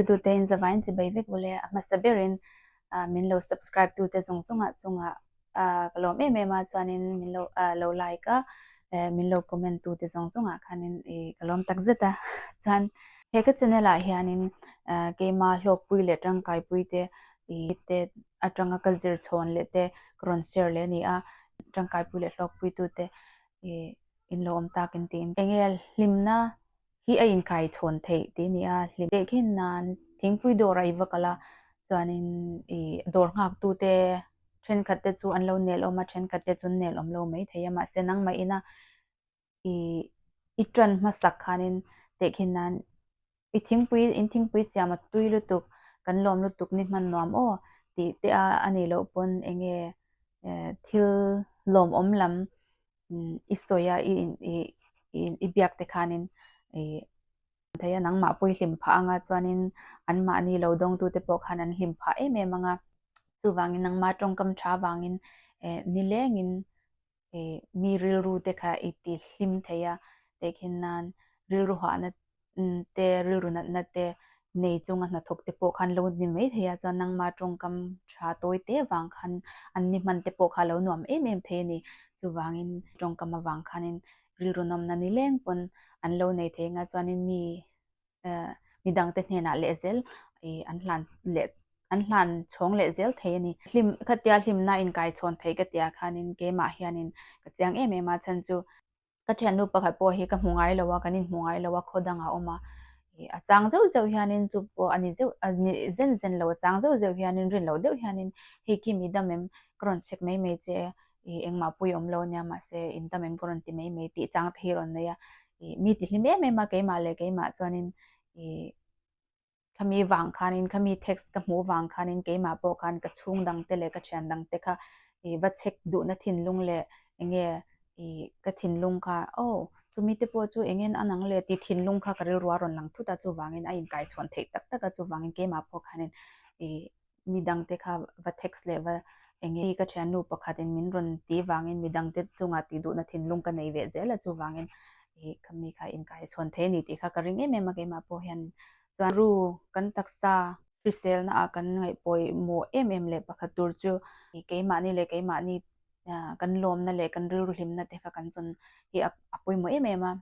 Youtube te in zavai in chibai vek vawle a hmasa ber in min lo subscribe tu te zawng zawng ah chung ah ka lawm em em a chuan in min lo lo like a min lo comment tu te zawng zawng ah khan in i ka lawm tak zet a chuan he ka channel ah hian in keima hlawk pui leh tangkai pui te i te atanga ka zir chhawn leh te ka rawn share leh a ni a tangkai pui leh hlawk pui tu te i in lo awm tak in ti in enge hlim na hi a inkaihchhawn theih tih a ni a, hlim teh khin nan thingpui dawr a iva kalh a, chuanin i dawr nghaktute thenkhat te chu an lo nelawm a, thenkhat te chun nelawm lo mai thei a, mahse nangmah ina i i tan hmasak khanin tehkhin nan i thingpui in thingpui siama tui lutuk kan lawm lutuk ni hman nuam aw tih te a, a nih loh pawn enge thil lawmawm lam i sawi a, i in i in i biak te khanin i thei a nangmah pawh i hlim phah ang a chuanin anmahni lo dawng tu te pawh khan an hlim phah em em ang a chuvangin nangma tawngkam tha vangin eh nilengin eh mi rilru te kha i ti hlim thei a tehkhin nan rilru hahna te rilru nat nat te nei chunga hnathawk te pawh khan lo ni mai thei a chuan nangma tawngkam tha tawi te vang khan an ni hman te pawh kha lo nuam em em thei a ni chuvangin tawngkam avang khanin rilru nawmna ni leng pawn an lo nei thei anga chuanin mi ehh mi dangte hnenah leh zel ihh an hlan leh an hlan chhawng leh zel thei a ni hlim khatia hlimna inkaichhawn theih ka tia khanin keimah hianin ka chiang em em a chhan chu Ka thiannu pakhat pawh hi ka hmu ngai lo a, kan inhmu ngai lo a, khaw dangah a awm a, ih, a chang zeuh zeuh hianin chu pawh a ni zeuh, a ni zen zen lo, a chang zeuh zeuh hianin rin loh deuh hianin hei khi mi dam em ka rawn chhek mai mai che, ih, engmah pui awm lo nia mahse in dam em ka rawn ti mai mai tih chang te hi rawn nei a, ih, mi ti hlim em em a keimah leh keimah chuanin, ih, khami vang khanin khami text ka hmuh vang khanin keimah pawh khan ka chhung dang te leh ka thian dang te kha ih va check duhna thinlung leh eng nge ih ka thinlung kha oh chumi te pawh chu eng nge an ang le tih thinlung kha ka rilrual rawn lang thut a chuvangin a inkaichhuan theih tak tak a chuvangin keimah pawh khanin ih mi dangte kha va text leh va eng nge ka thiannu pakhatin min rawn ti vangin mi dangte chungah tih duhna thinlung ka nei ve zel a chuvangin ih ka mi kha inkaihchhuan thei a ni tih kha ka ring em em a keimah pawh hian chuan ru kan taksa hriselna ah kan ngaih pawimawh em em leh pakhat tur chu ih keimahni leh keimahni kan lawmna leh kan rilru hlimna te kha kan chawn hi a pawimawh em em a.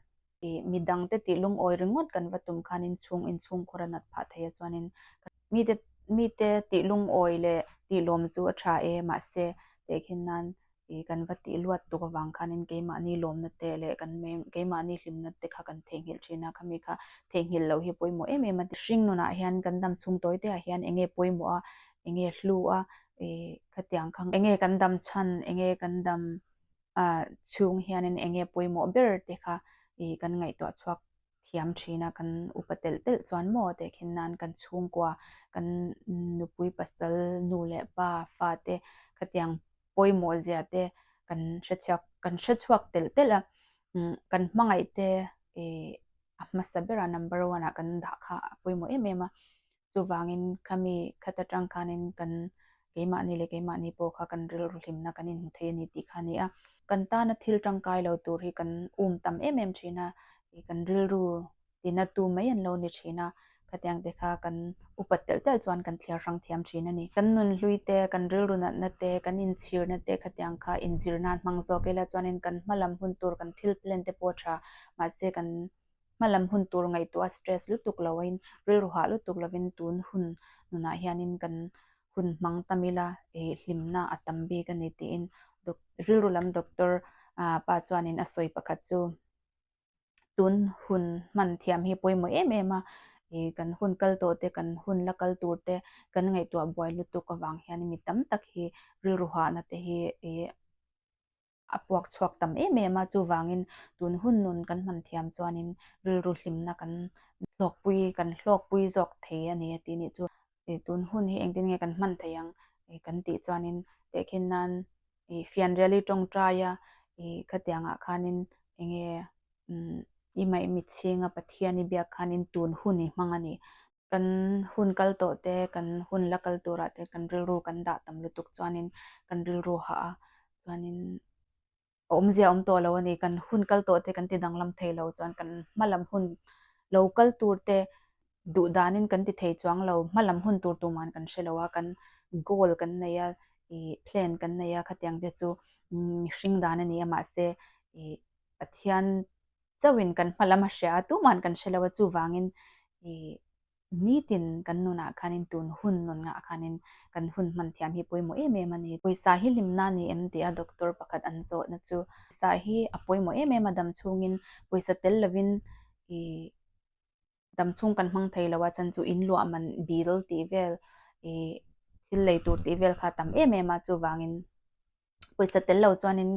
I midang te tih lungawi ringawt kan va tum khan inchhung inchhung khawra nat phah theia chuanin ka mite mite tih lungawi leh tih lawm chu a tha e mahse tehkhin nan i kan va tih luat tuk avang khanin keimahni lawmna te leh kan keimahni hlimna te kha kan theihnghilh thin a khami kha theihnghilh loh hi pawimawh em em a ni. Hring nunah hian kan dam chhung tawi te ah hian enge pawimawh a enge hlu a i khatiang kha enge kan dam chhan enge kan dam chhung hianin eng nge pawimawh ber te kha ih kan ngaihtuah chhuak thiam thin a, kan upa telh telh chuan maw teh khin nan kan chhungkua kan nupui pasal nu leh pa fate khatiang pawimawh zia te kan hrechhiak kan hre chhuak telh telh a, kan hmangaih te ih a hmasa bera number one ah kan dah kha a pawimawh em em a. Chuvangin khami khat atang khanin kan keimahni leh keimahni pawh kha kan rilru hlimna kan inhmu thei a ni tih kha a ni a. Kan tana thil tangkai lo tur hi kan um tam em em thin a, i kan rilru tina tu mai an lo ni thin a, khatiang te kha kan upat telh telh chuan kan thliar hrang thiam thin a ni. Kan nun hlui te, kan rilru natna te, kan inchhirna te khatiang kha inzir nan hmang zawk ila chuanin kan hma lam hun tur kan thil plan te pawh a tha, mahse kan Hmalam hun tur ngaihtuah stress lutuk loin, rilru hah lutuk lovin tun hun nunah hianin kan hun hmang tam ila ih hlimna a tam bik a ni tiin Doc rilru lam doctor pa chuanin a sawi pakhat chu tun hun hman thiam hi pawimawh em em a, ih kan hun kal tawh te, kan hun la kal tur te, kan ngaihtuah buai lutuk avang hianin mi tam tak hi rilru hahna te hi ih A puak chhuak tam em em a, chuvangin tun hun nun kan hman thiam chuanin rilru hlimna kan hlawkpui, kan hlawkpui zawk thei a ni a tih nih chu i tun hun hi engtin nge kan hman thei ang i kan tih chuanin tehkhin nan i fianriali tawngtai a i khatiangah khanin enge umm i mah i mitchhinga Pathian i biak khanin tun hun i hmang a nih Kan hun kal tawh te, kan hun la kal turah te kan rilru kan dah tam lutuk chuanin kan rilru hah a, chuanin a awmzia awm tawh lo a ni. Kan hun kal tawh te kan ti danglam thei lo chuan kan hmalam hun lo kal tur te duh danin kan ti thei chuang lo, hmalam hun tur tuman kan hre lo a, kan goal kan nei a, ih plan kan nei a khatiang te chu mihring dan a ni a mahse ih Pathian chauhin kan hma lam a hria a, tuma'n kan hre lo a, chuvangin ih nitin kan nunah khanin tun hun nawn ngah khanin kan hun hman thiam hi pawimawh em em a ni. Pawisa hi hlimna a ni em tia doctor pakhat an zawhna chu. Pawisa hi a pawimawh em em a dam chhungin pawisa tel lovin ih dam chhung kan hmang thei lo a chan chu in luah man bil tih vel ih thil lei tur tih vel kha a tam em em a, chuvangin pawisa tel lo chuanin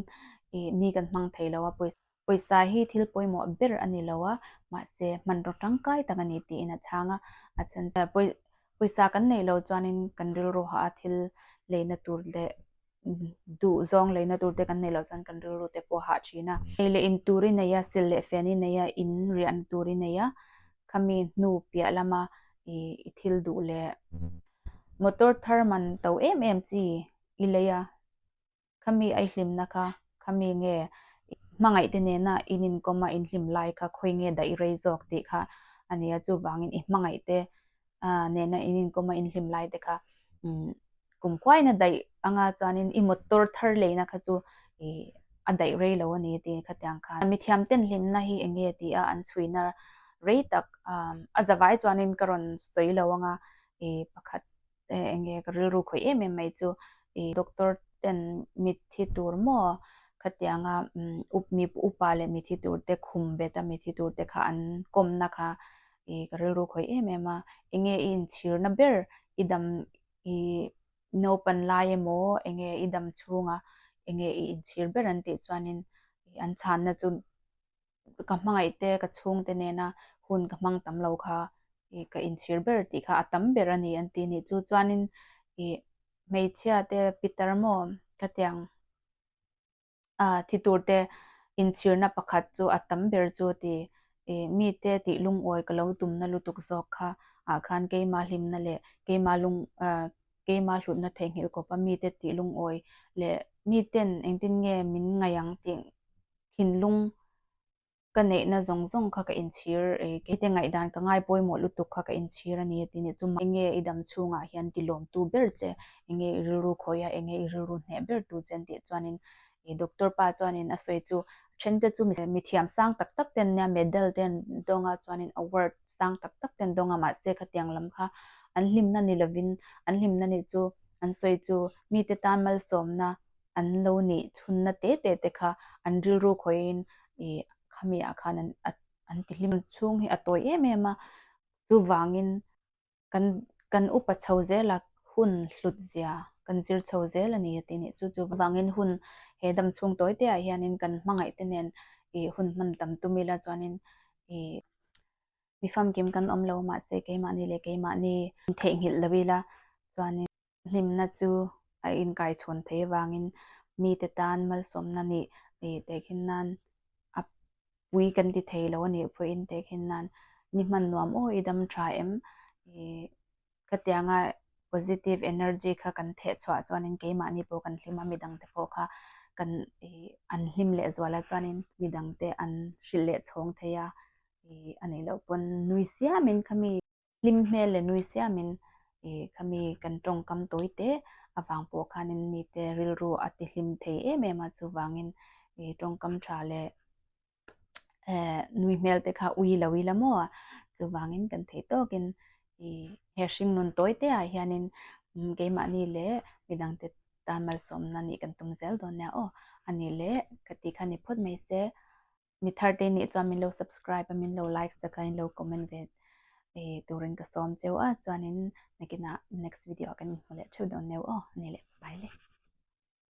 ih ni kan hmang thei lo a, pawisa pawisa hi thil pawimawh ber a ni lo a, mahse hmanraw tangkai tak a ni tiin a chhang a, a chhan chu pawi pawisa kan nei lo chuanin kan rilru hah a, thil leina tur leh duh zawng leina tur te kan nei lo chuan kan rilru te pawh a hah thin a, ei leh in tur i nei a, sil leh fian i nei a, in riahna tur i nei a, khami hnu piah lama ih i thil duh leh motor thar man to em em chi i lei a, khami aihlimna kha khami nge i hmangaihte nena in inkawma in hlim lai kha khawi nge dah i rei zawk tih kha a ni a, chuvangin i hmangaihte nena in inkawma in hlim lai te kha kum kuaina daih anga chuanin i motor thar leina kha chu i a daih rei lo a ni tih kha tiang khan mithiam ten hlimna hi eng nge tia an chhuina rei tak a zavai chuanin ka rawn sawi lo anga i pakhat eng nge ka rilru khawih em em mai chu ih doctor ten mithi tur maw kha tianga umm mi upa leh mithi turte khum bet a mithi turte kha an kawmna kha ih ka rilru khawih em em a eng nge i inchhirna ber i dam ih naupan lai emaw eng nge i dam chhunga eng nge i inchhir ber an tih chuanin an chhanna chu ka hmangaih te ka chhung te nena hun ka hmang tam lo kha i ka inchhir ber tih kha a tam ber a ni an ti ni chu chuanin i hmeichhia te pitar maw khatiang a thi tur te inchhir na pakhat chu a tam ber chu ti i mi te tih lungawi ka lo tum na lutuk zawk kha ah khan keima hlim na leh keima lung ah keima hlut na thei nghilh kawp a mi te tih lungawi leh mi ten engtin nge min ngaih ang tih thinlung ka neihna zawng zawng kha ka inchhir e, hete ngaihdan ka ngai pawimawh lutuk kha ka inchhir a ni a ti ni. Chu mai nge i dam chhungah hian tilawmtu ber che, enge i rilru khawih a, enge i rilru hneh ber tu che an tih chuanin doctor pa chuanin a sawi chu a thente chu mi thiam sang tak tak ten nia medal ten dawnga chuanin award sang tak tak ten dawnga mahse khatiang lam kha an hlimna ni lovin an hlimna ni chu an sawi chu mite tan malsawmna an lo neih chhunna te te te kha an rilru khawiin ih khami ah khan an an ti hlim chhung hi a tawi em em a, chuvangin kan kan upa chho zel a hun hlut zia kan zir chho zel a ni a ti nih chu chu vangin hun he dam chhung tawi te ah hianin kan hmangaih te nen ih hun hman tam tum ila chuanin ih mi famkim kan awm lo mahse keimahni leh keimahni theih nghilh lo ila chuanin. Hlimna chu a inkaichhawn thei vangin mite tan malsawmna nih tehkhin nan a pui kan ti thei lo a nih pawhin tehkhin nan ni hman nuam aw i dam tha em? Khatianga positive energy kha kan theh chhuah chuanin keimahni pawh kan hlim a, midang te pawh kha kan an hlim lehzual a chuanin midang te an hrilh leh chhawng thei a, a nih loh pawn nui siamin khami. Hlim hmel le nui siamin i khami kan tawngkam tawi teh avang pawh khanin mite rilru a ti hlim thei em em a, chuvangin i tawngkam tha leh nui hmel te kha ui lo ila maw? Chuvangin kan thei tawkin i he hringnun tawi te ah hianin keimahni leh midang te tan malsawmna nih kan tum zel dawn nia aw, a nih leh ka tih kha ni phawt mai se. mi thar te nih chuan min lo subscribe a min lo like zet a in lo comment ve turin ka sawm cheu a chuanin nakin ah next video ah kan inhmu leh theuh dawn neuh aw ni leh ka paile.